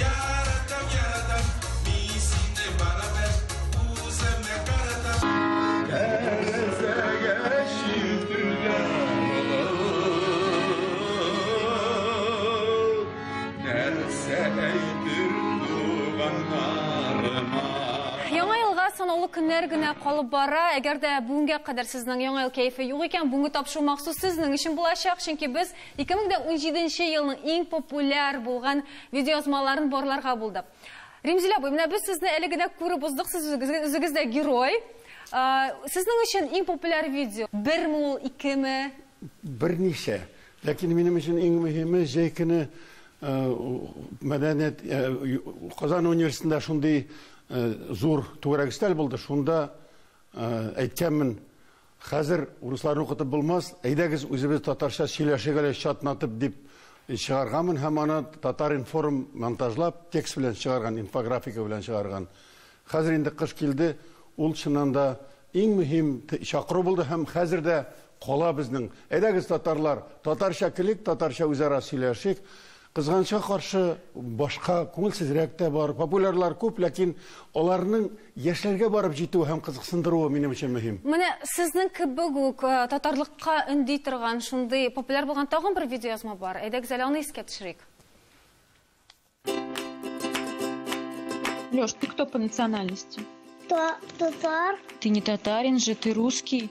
Яратам, яратам, мин сине барыбер үземә каратам. Тәрәзәгә чиртелгән болыт, нәрсә әйтер туганнарыма? Яңа елга санаулы көннәр генә калып бара. Әгәр дә бүгенгә кадәр сезнең Яңа ел кәефе юк икән, бүгенге тапшыру махсус сезнең өчен булачак, чөнки без Ике мең дә унҗиде нче елның иң популяр булган видеоязмаларын барларга булдык. Римзил абый, менә без сезне әле генә күреп уздык, сез үзегез, үзегез дә герой. Сезнең өчен иң популяр видео берме ул, икеме? Берничә. Ләкин минем өчен иң мөһиме, җәй көне мәдәният Казан университетында шундый зур түгәрәк өстәл булды, шунда әйткәнмен, Хәзер урысларны укытып булмас, әйдәгез үзебез татарча сөйләшик әле чатнатып дип чыгарганмын һәм аны Татар-информ монтажлап, текст белән чыгарган, инфографика белән чыгарган. Хәзер инде кыш килде, ул чыннан да иң мөһим чакыру булды һәм хәзер дә кала безнең. Әйдәгез, татарлар, татарча көлик, татарча үзара сөйләшик. Кызганычка каршы, башка, күңелсезрәк тә бар. Популярлар күп, ләкин аларның яшьләргә барып җитүе һәм кызыксындыруы минем өчен мөһим. Менә сезнең кебек үк татарлыкка өнди торган шундый популяр булган тагын бер видеоязма бар. Әйдәгез әле аны искә төшерик. Лёш, ты кто по национальности? Татар. Ты не татарин же, ты русский.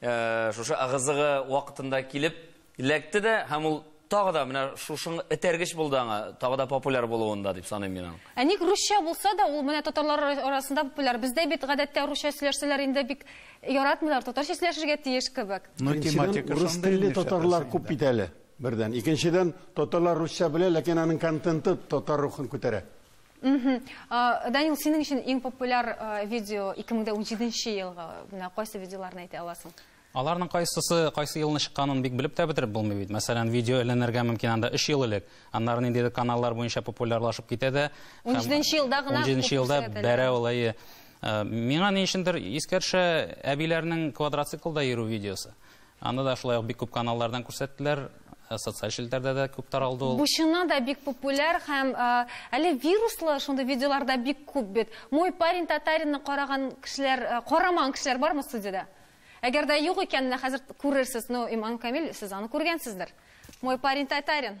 Шушы ыгы-зыгы вакытында килеп эләкте дә һәм ул тагы да менә шушың этәргеч булды аңа, тагы да популяр булуында дип саныйм мин аның. Ә ник русча булса да, ул менә татарлар арасында популяр. Бездә бит гадәттә русча сөйләшсәләр инде бик яратмыйлар, татарча сөйләшергә тиеш кебек. Беренчедән, рус телле татарлар күп бит әле, бердән. Икенчедән, татарлар русча белә, ләкин аның контенты татар рухын күтәрә. Данил, синең өчен иң популяр видео 2017 елгы менә кайсы видеоларны әйтә аласың? Аларның кайсысы, кайсы елны чыкканын бик белеп тә бетереп булмый бит. Мәсәлән, видео эленергә мөмкин анда 3 ел элек. Аннары ниндидер каналлар буенча популярлашып китә дә. 17 елда гына 17 елда бәрә ул әйе. Миңа ни өчендер искәршә әбиләрнең квадроциклда йөрү видеосы. Анда да шулай ук бик күп каналлардан күрсәттеләр, социаль челтәрдә дә күп таралды ул. Бу чыннан да бик популяр һәм әле вируслы шундый видеолар да бик күп бит. Мой парень татаринны караган кешеләр, карамаган кешеләр бармы студиядә? Әгәр дә юк икән, менә хәзер күрерсез. Ну, Иман Камил, сез аны күргәнсездер. Мой парень татарин.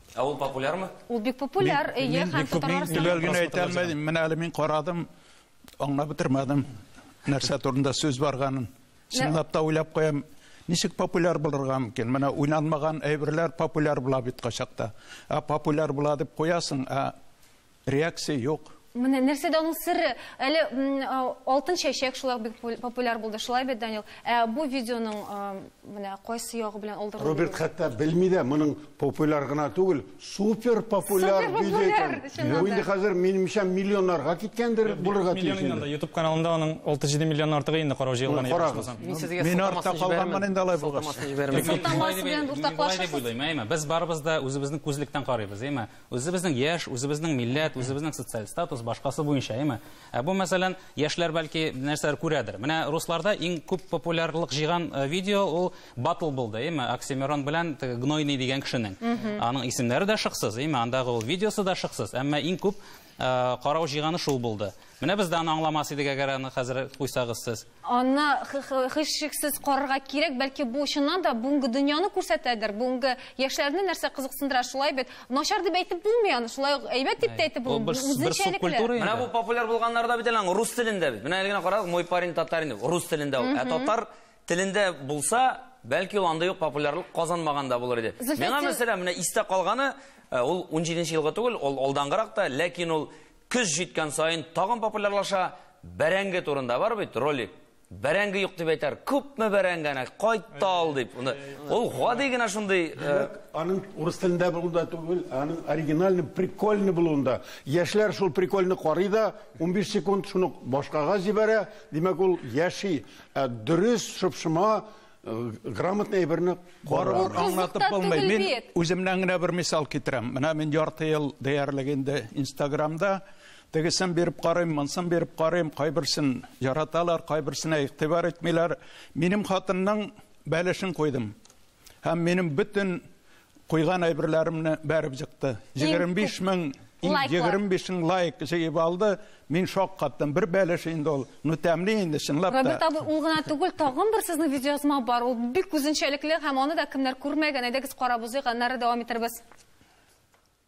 Ә ул популярмы? Ул бик популяр, әйе, һәм татарлар саны. Мин генә әйтә алмадым, менә әле мин карадым, аңлап бетермәдем, нәрсә турында сүз барганын. Чынлап та уйлап куям, ничек популяр булырга мөмкин? Менә уйналмаган әйберләр популяр була бит кайчакта. Ә популяр була дип куясың, ә Реакция юк. Менә нәрсәдә аның сере? Әле Алтын чәчәк шулай бик популяр булды, шулай бит, Данил? Ә бу видеоның менә кайсы ягы белән алдырылды? Роберт хәтта белми дә, моның популяр гына түгел, супер популяр видео икән. Бу инде хәзер, минемчә, миллионнарга киткәндер, булырга тиеш. Миллион инде анда, YouTube каналында аның 6-7 миллионнан артык инде карау җыелган. Карагыз. Мин артта калганмын инде алай булгач. Без барыбыз да үзебезнең күзлектән карыйбыз, әйме? Үзебезнең яшь, үзебезнең милләт, үзебезнең социаль статус, башкасы буенча, әйме? Ә бу, мәсәлән, яшьләр бәлки нәрсәләр күрәдер. Менә русларда иң күп популярлык җыйган э, видео ул батл булды, әйме? Оксимирон белән теге Гнойный дигән кешенең. Аның исемнәре дә шыксыз, әйме? Андагы ул видеосы да шыксыз, әмма иң күп э, карау җыйганы шул булды. Менә без дә аны аңламас идек, әгәр аны хәзер куйсагыз сез. Аны һичшиксез карарга кирәк, бәлки бу чыннан да бүгенге дөньяны күрсәтәдер, бүгенге яшьләрне нәрсә кызыксындыра, шулай бит. Начар дип әйтеп булмый аны, шулай ук әйбәт дип тә әйтеп булмый. Үзенчәлекле. Менә бу популяр булганнар да бит әле аның рус телендә бит. Менә әле генә карагыз, мой парень татарин дип, рус телендә ул. Ә татар телендә булса, бәлки ул андый ук популярлык казанмаган да булыр иде. Миңа мәсәлән, менә истә калганы, ул 17 елгы түгел, ул алдангырак та, ләкин ул Көз җиткән саен тагын популярлаша. Бәрәңге турында бар бит ролик. Бәрәңге юк дип әйтәр. Күпме бәрәңгәне кайтта ал дип. Ул ул гади генә шундый э, Аның урыс телендә булуында түгел, аның оригинальный, прикольный булуында. Яшьләр шул прикольный карый да, 15 секунд шуны башкага җибәрә, димәк ул яши. Ә дөрес, шыпшыма, грамотный әйберне барыбер аңлатып булмый. Мин үземнән генә бер мисал китерәм. Менә мин ярты ел диярлек инде Инстаграмда тегесен биреп карыйм, монсын биреп карыйм, кайберсен яраталар, кайберсенә игътибар итмиләр. Минем хатынның бәлешен куйдым. Һәм минем бөтен Куйган әйберләремне бәреп җыкты. 25 мең, 25 мең лайк җыеп алды. Мин шок каттым. Бер бәлеш инде ул. Ну тәмле инде, чынлап та. Роберт абый, ул гына түгел, тагын бер сезнең видеоязма бар. Ул бик үзенчәлекле һәм аны да кемнәр күрмәгән. Әйдәгез карап узыйк, аннары дәвам итербез.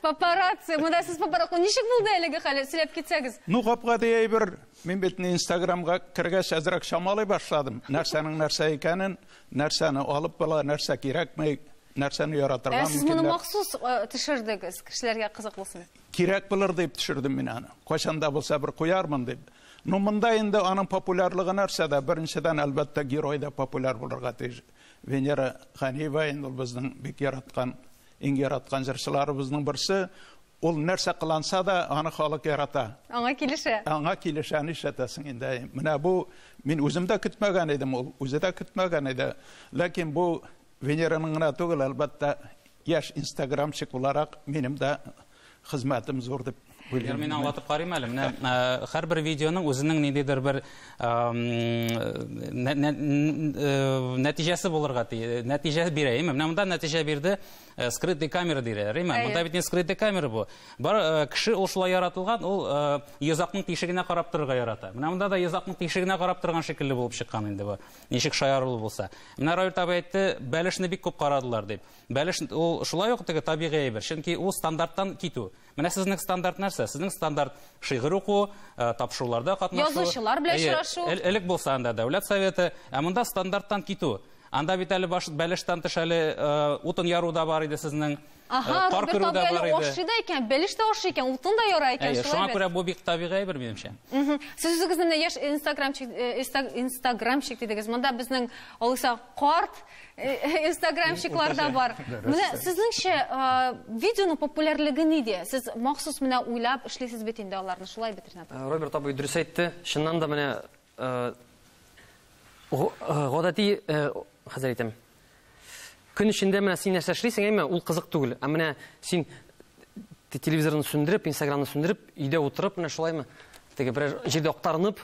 Папарацци, монда сез папарацци. Ничек булды әлеге хәл? Сөйләп китсәгез. Ну, гап-гади әйбер. Мин бит инде Инстаграмга кергәч әзрәк чамалый башладым. Нәрсәнең нәрсә икәнен, нәрсәне алып була, нәрсә кирәкмәй, нәрсәне яратырга мөмкин. Ә сез моны махсус э, төшердегез, кешеләргә кызык булсын. Кирәк булыр дип төшердем мин аны. Кайчан да булса бер куярмын дип. Ну, монда инде аның популярлыгы нәрсәдә? Беренчедән, әлбәттә, герой да популяр булырга тиеш. Венера Ганиева инде ул безнең бик яраткан, иң яраткан җырчыларыбызның берсе. Ул нәрсә кыланса да, аны халык ярата. Аңа килешә. Аңа килешә, нишләтәсең инде, әй. Менә бу мин үзем дә көтмәгән идем, ул үзе дә көтмәгән иде. Ләкин бу Венераның гына түгел, әлбәттә, яшь инстаграмщик буларак, минем дә Хезмәтем зур дип уйлыйм. Әгәр мин аңлатып карыйм әле. Менә һәрбер видеоның үзенең ниндидер бер нәтиҗәсе булырга тиеш. Нәтиҗә бирә. Менә монда нәтиҗә бирде. Скрытый камера диләр. Монда бит не скрытый камера бу. Бар кеше ул шулай яратылган, ул йозакның тишегенә карап торырга ярата. Менә монда да йозакның тишегенә карап торган шикелле булып чыккан инде бу. Ничек шаярулы булса. Менә Роберт абый әйтте, бәлешне бик күп карадылар дип. Бәлеш ул шулай ук теге табигый әйбер, чөнки ул стандарттан китү. Менә сезнең стандарт нәрсә? Сезнең стандарт шигырь уку, э, тапшыруларда катнашу. Язучылар белән очрашу. Элек булса анда дәүләт советы, ә монда стандарттан китү. Анда бит әле баш бәлештән тыш әле э, утын яру да бар иде сезнең. Ага, э, Роберт абый әле ашый да икән, бәлеш тә ашый икән, утын да яра икән, шулай бит. Шуңа күрә бу бик табигый әйбер минемчә. Сез үзегезне менә яшь инстаграмчик инстаграмчик дидегез. Монда безнең Алыса карт Инстаграмщиклар да бар. Менә сезнеңчә, видеоның популярлыгы нидә? Сез махсус менә уйлап эшлисез бит инде аларны, шулай бит, Ренат? Роберт абый дөрес әйтте. Чыннан да менә гадәти, хәзер әйтәм. Көн эчендә менә син нәрсә эшлисең, әйме, ул кызык түгел. Ә менә син телевизорны сүндереп, инстаграмны сүндереп, өйдә утырып, менә шулаймы, теге берәр җирдә актарынып,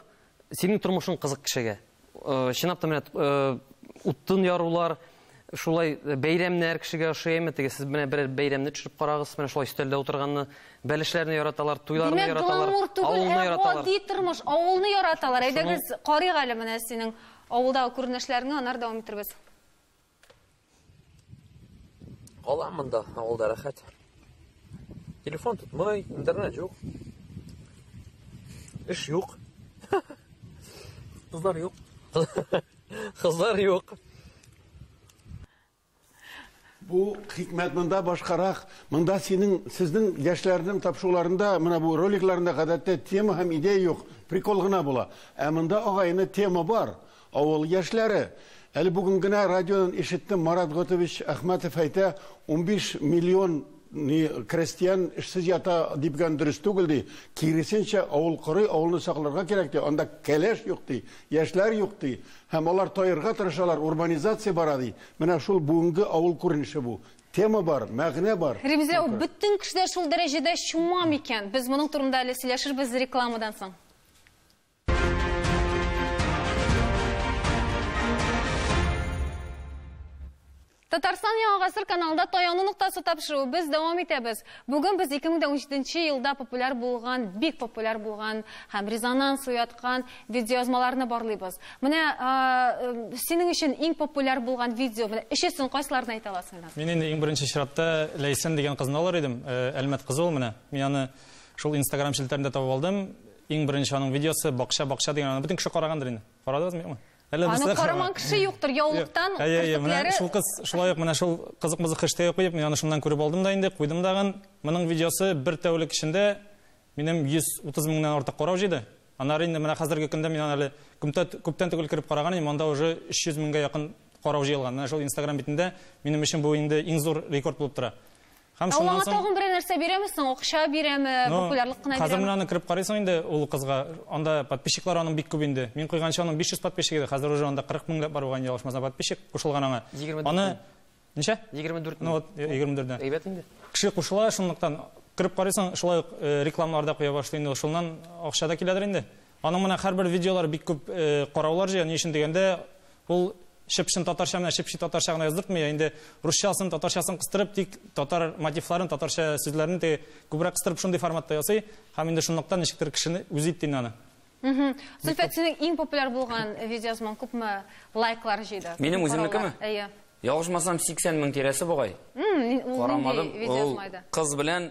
Синең тормышың кызык кешегә. Чынлап та менә утын ярулар, шулай бәйрәмнәр кешегә ошый әйме? Теге сез менә берәр бәйрәмне төшереп карагыз, менә шулай өстәлдә утырганны. Бәлешләрне яраталар, туйларны яраталар, авылны яраталар. Гади тормыш, авылны яраталар. Әйдәгез, карыйк әле менә синең авылдагы күренешләреңне, аннары дәвам итәрбез. Кала монда, авылда рәхәт. Телефон тотмый, интернет юк. Эш юк. Кызлар юк. Кызлар юк. Бу хикмәт монда башкарак. Монда синең, сезнең яшьләрнең тапшуларында, менә бу роликларында гадәттә тема һәм идея юк, прикол гына була. Ә монда агайны тема бар. Авыл яшьләре, әле бүген генә радионан ишеттем, Марат Готович Әхмәтов әйтә, унбиш миллион крәстиян эшсез ята дибгән дөрес түгел ди, киресенчә, авыл корый, авылны сакларга кирәк ди, анда кәләш юк ди, яшьләр юк ди, һәм алар таерга тырышалар, урбанизация бара ди. Менә шул бүгенге авыл күренеше бу. Тема бар, мәгънә бар. Ремзә, ул бөтен кешедә шул дәрәҗәдә чума микән? Без моның турында әле сөйләшербез рекламадан соң. Татарстан яңа гасыр каналында таяну ноктасы тапшыру без дәвам итәбез. Бүген без 2017 елда популяр булган, бик популяр булган һәм резонанс уяткан видеоязмаларны барлыйбыз. Менә синең өчен иң популяр булган видео, менә өчесен кайсыларын әйтә аласың? Мин инде иң беренче чиратта Ләйсән дигән кызны алыр идем, Әлмәт кызы ул менә. Мин аны шул Instagram челтәрендә табып алдым. Иң беренче аның видеосы бакча бакча дигән аны бөтен кеше карагандыр инде. Карадыгызмы юкмы? Әллә без Аны караман кеше юктыр, яулыктан Әйе, әйе, менә керфекләре шул кыз шулай ук менә шул кызык-мызык хэштеге куеп, мин аны шуннан күреп алдым да инде, куйдым дагын. Моның видеосы бер тәүлек эчендә минем 130 меңнән артык карау җыйды. Аннары инде менә хәзерге көндә мин аны әле күмтә күптән түгел кереп караган идем, анда уже 300 меңгә якын карау җыелган. Менә шул Instagram битендә минем өчен бу инде иң зур рекорд булып тора. Һәм Ә ул аңа тагын берәр нәрсә бирәме соң? Акча бирәме? Ну, Популярлык кына Хәзер менә аны кереп карыйсың инде ул кызга. Анда подписчиклар аның бик күп инде. Мин куйганчы аның 500 подписчик иде, хәзер уже анда 40 меңләп бар булган, ялгышмасам, подписчик кушылган аңа. Аны ничә? 24 Ну вот, 24 дә. Әйбәт инде. Кеше кушыла, шунлыктан кереп карыйсың, шулай ук э, рекламалар да куя башлый инде. Шуннан акча да киләдер инде. Аның менә хәрбер видеолары бик күп караулар җыя, ни өчен дигәндә, ул чып-чын татарча менә чып-чи татарча гына яздыртмый, ә инде русчасын, татарчасын кыстырып, тик татар мотивларын, татарча сүзләрне теге күбрәк кыстырып шундый форматта ясый, һәм инде шунлыктан ничектер кешене үзе итте инде аны. Зөлфәт, синең иң популяр булган видеоязмаң күпме лайклар җыйды? Минем үземнекеме? Әйе. Ялгышмасам, 80 мең тирәсе бугай. Карамадым. Ул кыз белән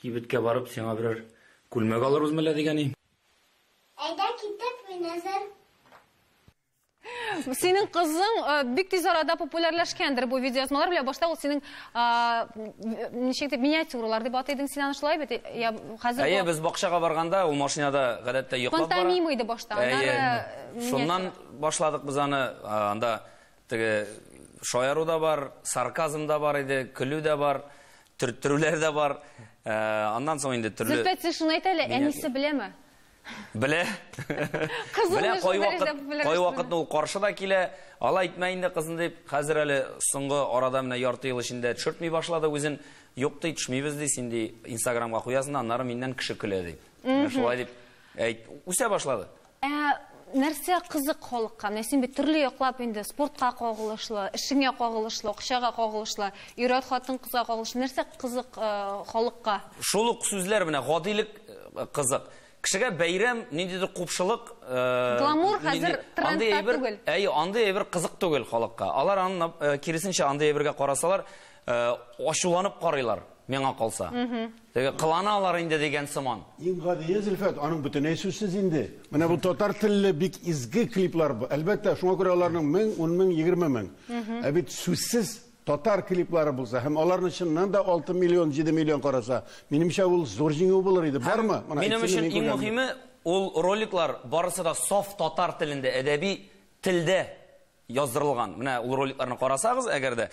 Кибеткә барып, сиңа берәр күлмәк алырбызмы әллә, дигәни. Әйдә китик, мин әзер. Синең кызың э, бик тиз арада популярләшкәндер бу видеоязмалар белән. Башта ул синең ничек дип миниатюралар дип атый идең син аны шулай бит? Я хәзер Әйе, без бакчага барганда ул машинада гадәттә йоклап бара. Пантомима иде башта. Аннары Шуннан башладык без аны анда Теге шаяру да бар, сарказм да бар иде, көлү дә бар, төрттерүләр дә бар. Э, аннан соң инде төрле... Зөфтә тешен әйт әле, әнисе беләме? Белә. Белә, кай вакыт, кай вакытны ул каршы да килә. Алай итмә инде, кызым, дип, хәзер әле соңгы арада менә ярты ел эчендә төшертми башлады үзен. Юк, ди, төшмибез, ди, син, ди, инстаграмга куясың, аннары миннән кеше көлә, ди. Шулай дип, әйт, үсә башлады. Ә нәрсә кызык халыкка? Менә син бит төрле яклап инде спортка кагылышлы, эшеңә кагылышлы, акчага кагылышлы, ир-ат, хатын-кызга кагылышлы. Нәрсә кызык халыкка? Шул ук сүзләр менә, гадилек кызык. Кешегә бәйрәм, ниндидер купшылык. Гламур хәзер трендта түгел. Әйе, андый әйбер кызык түгел халыкка. Алар аны киресенчә, андый әйбергә карасалар, ачуланып карыйлар, миңа калса. Теге кыланалар инде дигән сыман. Иң гадие Зөлфәт, аның бөтенләй сүзсез инде. Менә бу татар телле бик изге клиплар. Әлбәттә, шуңа күрә аларның мең, ун мең, егерме мең. Ә бит сүзсез татар клиплары булса һәм аларны чыннан да алты миллион, җиде миллион караса, минемчә, ул зур җиңү булыр иде. Бармы? Минем өчен иң мөһиме, ул роликлар барысы да саф татар телендә, әдәби телдә яздырылган. Менә ул роликларны карасагыз, әгәр дә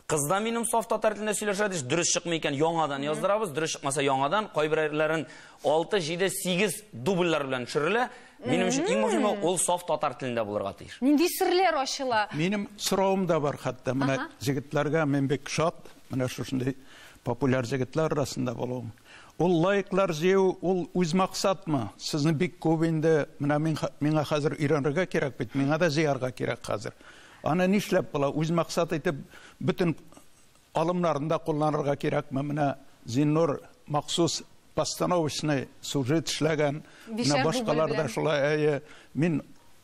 кыз да минем саф татар телендә сөйләшә диш, дөрес чыкмый икән, яңадан яздырабыз, дөрес чыкмаса яңадан, кайберләрен 6, 7, 8 дубльләр белән төшерелә. Минем өчен иң мөһиме ул саф татар телендә булырга тиеш. Нинди серләр ачыла? Минем соравым да бар хәтта. Менә җегетләргә мин бик шат, менә шушындый популяр җегетләр арасында булуым. Ул лайклар җыю ул үз максатмы? Сезне бик күп инде, менә мин миңа хәзер өйрәнергә кирәк бит, миңа да җыярга кирәк хәзер. Аны нишләп була, үз максат итеп бөтен алымнарны да кулланырга кирәкме? Менә Зиннур махсус постановочный сюжет эшләгән, менә башкалар да шулай, әйе. Мин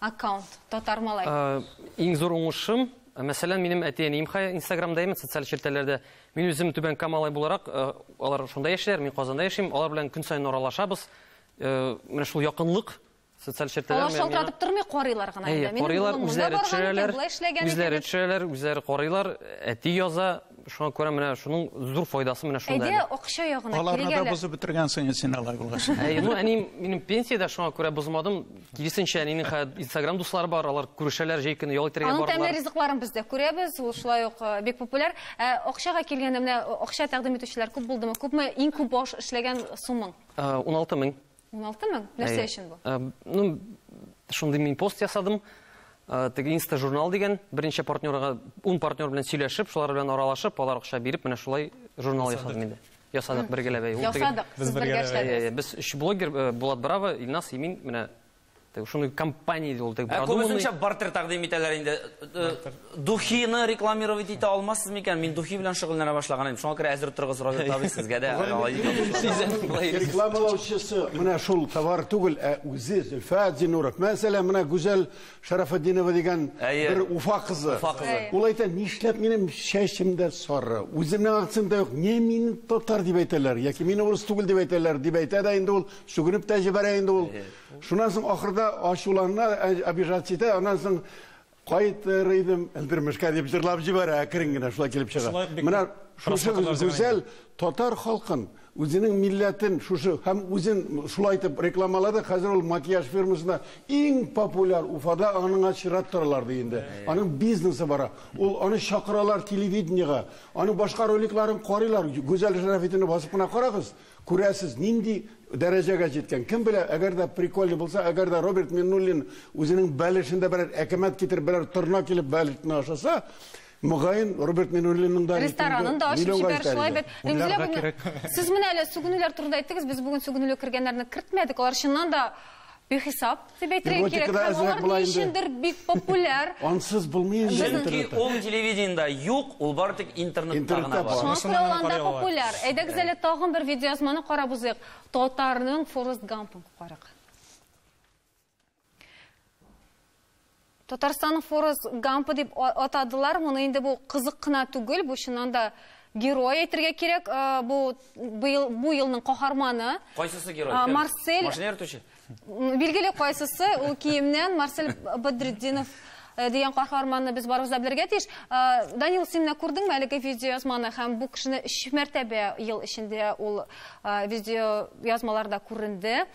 Аккаунт, татар малай. Э, иң зур уңышым, э, мәсәлән, минем әти-әнием хәзер Инстаграмда яме, социаль челтәрләрдә. Мин үзем Түбән Камалай буларак, э, алар шунда яшиләр, мин Казанда яшим, алар белән көн саен аралашабыз. Менә шул якынлык социаль челтәрләр. Алар шалтыратып тормый, карыйлар гына инде. Карыйлар, үзләре төшерәләр, үзләре төшерәләр, үзләре карыйлар, әти яза, Шуңа күрә менә шуның зур файдасы менә шунда. Әйдә, акча ягына килгәле. Аларны да бозып бетергәнсең инде син алай булгач. Әй, ну әни минем пенсиядә шуңа күрә бозмадым. Киресенчә, әнинең хәзер Instagram дуслары бар, алар күрешәләр, җәй көне ял итәргә бардылар. Аның тәмле ризыкларын без дә күрәбез, ул шулай ук э, бик популяр. Ә акчага килгәндә менә акча тәкъдим итүчеләр күп булдымы? Күпме иң күп баш эшләгән суммаң? 16 э, мең. 16 мең? Нәрсә өчен бу? Э, ну, шундый мин пост ясадым. Э, теге Инста журнал дигән беренче партнерга 10 партнер белән сөйләшеп, шулар белән аралашып, алар акча биреп, менә шулай журнал ясадым инде. Ясадык бергәләп. Ясадык. Без бергә эшләдек. Без өч блогер э, Булат Браво, Илнас, Имин, менә Теге шундый компания иде ул, теге Ә продуманный. күбесенчә бартер тәкъдим итәләр инде. Э, Духины рекламировать итә алмассыз микән? Мин духи белән шөгыльләнә башлаган идем. Шуңа күрә әзер торыгыз, Роберт абый, сезгә дә алай дип. Сизәм, болай йөрисез. Рекламалаучысы менә шул товар түгел, ә үзе Зөлфә Зинуров. Мәсәлән, менә Гүзәл Шәрәфетдинова дигән Әйе. бер Уфа кызы. Уфа кызы. Әйе. Ул әйтә, нишләп минем чәчем дә сары, үземнең акцент да юк, не мин татар дип әйтәләр, яки мин урыс түгел дип әйтәләр, дип әйтә дә инде ул, сүгенеп тә җибәрә инде ул. Шуннан соң ахырда ачулана, обижаться итә, аннан соң кайтыр идем өлдермешкә дип җырлап җибәрә, әкрен генә шулай килеп чыга. Менә шушы гүзәл татар халкын, үзенең милләтен шушы һәм үзен шулай итеп рекламалады. Хәзер ул макияж фирмасында иң популяр Уфада, аныңа чират торалар ди инде. Аның бизнесы бара. Ул аны чакыралар телевидениегә. Аның башка роликларын карыйлар. Гүзәл Шәрәфетдинны басып кына карагыз. Күрәсез, нинди дәрәҗәгә җиткән. Кем белә, әгәр дә прикольный булса, әгәр дә Роберт Миннуллин үзенең бәлешендә берәр әкәмәт китереп, берәр торна килеп бәлешне ашаса, мөгаен, Роберт Миннуллинның да ресторанын да ачып җибәр шулай бит. Сез менә әле сүгенүләр турында әйттегез, без бүген сүгенүле кергәннәрне кертмәдек, алар чыннан да Бихисап, дип әйтергә кирәк, һәм алар ни өчендер бик популяр. Ансыз булмый инде интернетта. Чөнки ул телевидениедә юк, ул бары тик интернетта гына бар. Шуңа күрә ул анда популяр. Әйдәгез әле тагын бер видеоязманы карап узыйк. Татарның Форрест Гампын карыйк. Татарстанның Форрест Гампы дип атадылар. Моны инде бу кызык кына түгел, бу чыннан да герой әйтергә кирәк. Бу быел бу елның каһарманы. Кайсысы герой? Марсель. Машина йөртүче. Билгеле кайсысы, ул киемнән Марсель Бадретдинов Э, дигән каһарманны без барыбыз да белергә тиеш. Э, Данил, син менә күрдеңме әлеге видеоязманы һәм бу кешене өч мәртәбә ел эчендә ул э, видеоязмаларда күренде.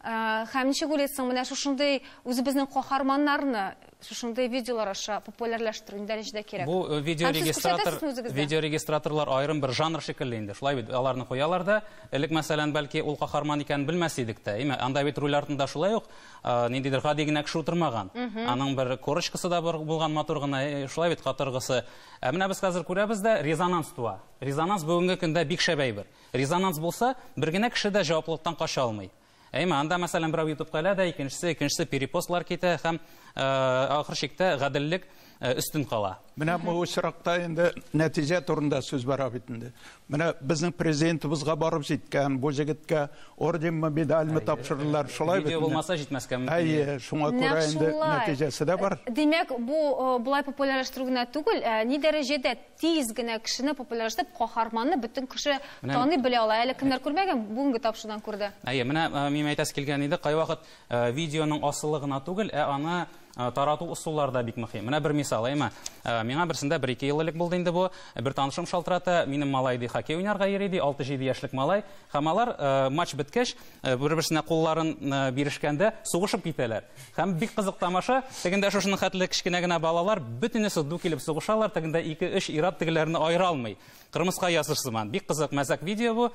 Һәм ничек уйлыйсың, менә шушындый үзебезнең каһарманнарны шушындый видеолар аша популярләштерү нинди дәрәҗәдә кирәк? Бу э, видеорегистратор видеорегистраторлар аерым бер жанр шикелле инде. Шулай бит, аларны куялар да, элек мәсәлән, бәлки ул каһарман икәнен белмәс идек тә. Әйме, анда бит руль артында шулай ук э, ниндидер гади генә кеше утырмаган. Аның бер корочкасы да бар булган матур гына, э, шулай бит катыргысы. Ә менә без хәзер күрәбез дә резонанс туа. Резонанс бүгенге көндә бик шәп әйбер. Резонанс булса, бер генә кеше дә җаваплылыктан кача алмый. Әйме, анда, мәсәлән, берәү ютубка элә дә, икенчесе, икенчесе перепостлар китә һәм ахыр чиктә гаделлек өстен кала. Менә бу очракта инде нәтиҗә турында сүз бара бит инде. Менә безнең президентыбызга барып җиткән, бу җегеткә орденмы, медальмы тапшырдылар, шулай бит. Видео булмаса җитмәскә мөмкин. Әйе, шуңа күрә инде нәтиҗәсе дә бар. Димәк, бу болай популярлаштыру гына түгел, ә ни дәрәҗәдә Тиз генә кешене популяризлап, каһарманны бөтен кеше таный, белә ала. Әле кемнәр күрмәгән, бүгенге тапшырудан күрде. Әйе, менә минем әйтәсе килгән иде, кайвакыт видеоның асылы гына түгел, ә аны тарату ысуллары да бик мөһим. Менә бер мисал, әйеме? Миңа берсендә бер-ике ел элек булды инде бу. Бер танышым шалтырата, минем малай ди хоккей уйнарга йөри ди, алты-җиде яшьлек малай. Һәм алар матч беткәч, Э, бер-берсенә кулларын э, бирешкәндә сугышып китәләр. Һәм бик кызык тамаша, тегендә шушының хәтле кечкенә генә балалар бөтенесе ду килеп сугышалар, тегендә 2-3 ират тегеләрне аера алмый. Кырмыска языр сыман. Бик кызык мәзәк видео бу.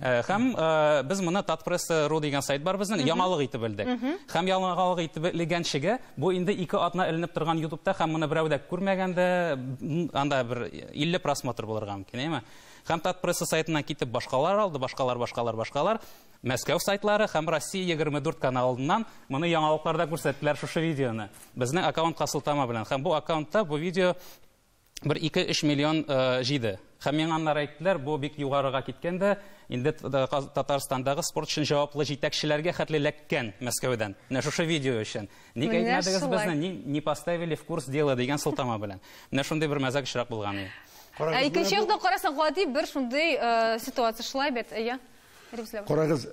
Э, һәм без моны Татпресс.ру дигән сайт бар безнең, яңалык итеп белдек. Һәм яңалык итеп легәнчегә бу инде ике атна эленеп торган YouTube-та һәм моны берәү дә күрмәгәндә анда бер 50 просмотр булырга мөмкин, әйме? һәм Татпресса сайтыннан китеп башкалар алды, башкалар, башкалар, башкалар, Мәскәү сайтлары һәм Россия 24 каналыннан моны яңалыкларда күрсәттеләр шушы видеоны. Безнең аккаунтка сылтама белән. Һәм бу аккаунтта бу видео бер 2-3 миллион э, җиде. Һәм миңа аннары әйттеләр, бу бик югарыга киткән дә, инде Татарстандагы спорт өчен җаваплы җитәкчеләргә хәтле ләккән Мәскәүдән. Менә шушы видео өчен. Ник әйтмәдегез безне, ни, не поставили в курс дела дигән сылтама белән. Менә шундый бер мәзәк очрак булган иде. Ә икенче якта карасаң, гади бер шундый э, ситуация шулай бит, әйе. Карагыз,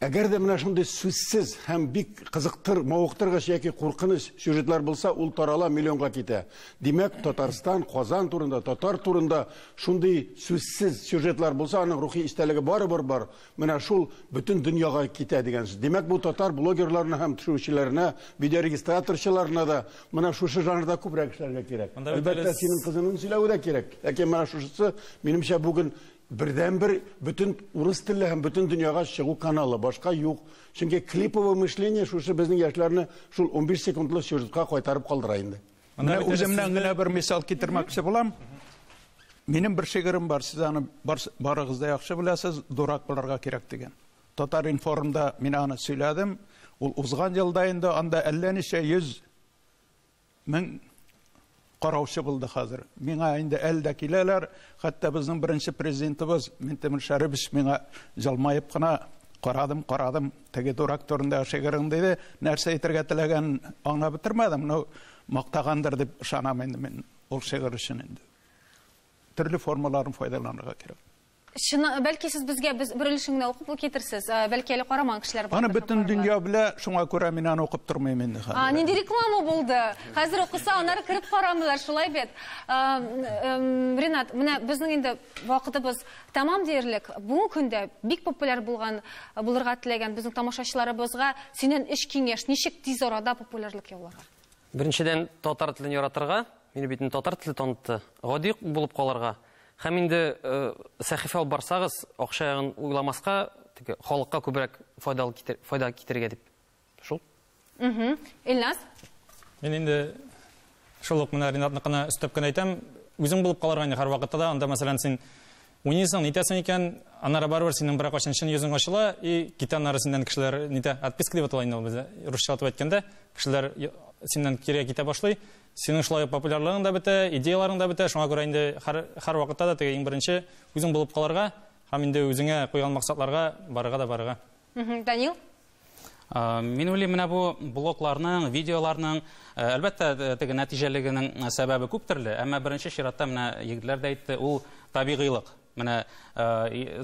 әгәр дә менә шундый сүзсез һәм бик кызыктыр, мавыктыргыч яки куркыныч сюжетлар булса, ул тарала миллионга китә. Димәк, Татарстан, Казан турында, татар турында шундый сүзсез сюжетлар булса, аның рухи истәлеге барыбер бар. Менә шул бөтен дөньяга китә дигән сүз. Димәк, бу татар блогерларына һәм төшерүчеләренә, видеорегистраторчыларына да менә шушы жанрда күбрәк эшләргә кирәк. Әлбәттә, синең кызының сөйләве дә кирәк. Ләкин менә шушысы, минемчә, бүген бердәнбер бөтен урыс телле һәм бөтен дөньяга чыгу каналы, башка юк. Чөнки клиповое мышление шушы безнең яшьләрне шул унбиш секундлы сюжетка кайтарып калдыра инде. Менә үземнән генә бер мисал китермәкче булам. Минем бер шигырем бар, сез аны барыгыз да яхшы беләсез, дурак буларга кирәк дигән. Татар информда мин аны сөйләдем. Ул узган елда инде анда әллә ничә йөз мең караучы булды хәзер. Миңа инде әле дә киләләр, хәтта безнең беренче президентыбыз Минтимер Шәрибович миңа җылмаеп кына карадым, карадым, Теге дурак турындагы шигырың диде, нәрсә әйтергә теләгән аңлап бетермәдем, но мактагандыр дип ышанам инде мин ул шигырь өчен инде. Төрле формаларын файдаланырга кирәк. Чын, бәлки сез безгә без бер өлешен генә укып китерсез, бәлки әле карамаган кешеләр бар. Аны бөтен дөнья белә, шуңа күрә мин аны укып тормыйм инде хәзер. А, нинди реклама булды? Хәзер укыса, аннары кереп карамыйлар, шулай бит. Ренат, менә безнең инде вакытыбыз Тәмам диярлек, бүгенге көндә бик популяр булган, булырга теләгән безнең тамашачыларыбызга синнән өч киңәш, ничек тиз арада популярлык яуларга? Беренчедән, татар телен яратырга, мине бит инде татар теле танытты, гади ук булып калырга. Һәм инде сәхифә алып барсагыз, акча ягын уйламаска, теге халыкка күбрәк файдалы китер, файда китерергә дип. Шул. Угу. Илназ? Мин инде шул ук менә Ринатныкына өстәп кенә әйтәм, үзең булып калырга инде һәрвакытта да, анда мәсәлән син уйныйсың, нитәсең икән, аннары барыбер синең бер кайчан чын йөзең ачыла и китә аннары синнән кешеләр нитә, отписка дип атала инде ул бездә, русча атып әйткәндә, кешеләр синнән кирегә китә башлый. Синең шулай ук популярлыгың да бетә, идеяларың да бетә, шуңа күрә инде һәр һәрвакытта да теге иң беренче үзең булып калырга һәм инде үзеңә куйган максатларга барырга да барырга. Данил? Мин уйлыйм, менә бу блокларның, видеоларның, әлбәттә, теге нәтиҗәлегенең сәбәбе күп төрле, әмма беренче чиратта менә егетләр дә әйтте, ул табигыйлык. Менә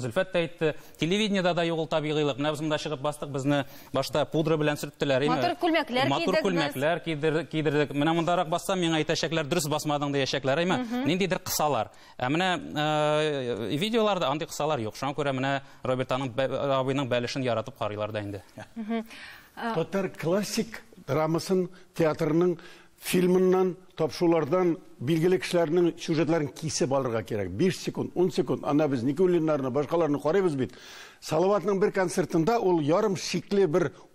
Зөлфәт тә әйтте, телевидениедә дә юк ул табигыйлык. Менә без монда чыгып бастык, безне башта пудра белән сөрттеләр. Матур күлмәкләр кидек. Матур күлмәкләр кидердек. Менә мондарак бассам, миңа әйтәчәкләр, дөрес басмадың диячәкләр. Әйме, ниндидер кысалар. Ә менә э, видеоларда андый кысалар юк. Шуңа күрә менә Роберт аның абыйның бәлешен яратып карыйлар да инде. Татар классик драмасын театрының фильмыннан, тапшулардан билгеле кешеләрнең сюжетларын кисеп алырга кирәк. 5 секунд, 10 секунд, ана без Никулиннарны, башкаларны карыйбыз бит. Салаватның бер концертында ул ярым шикле бер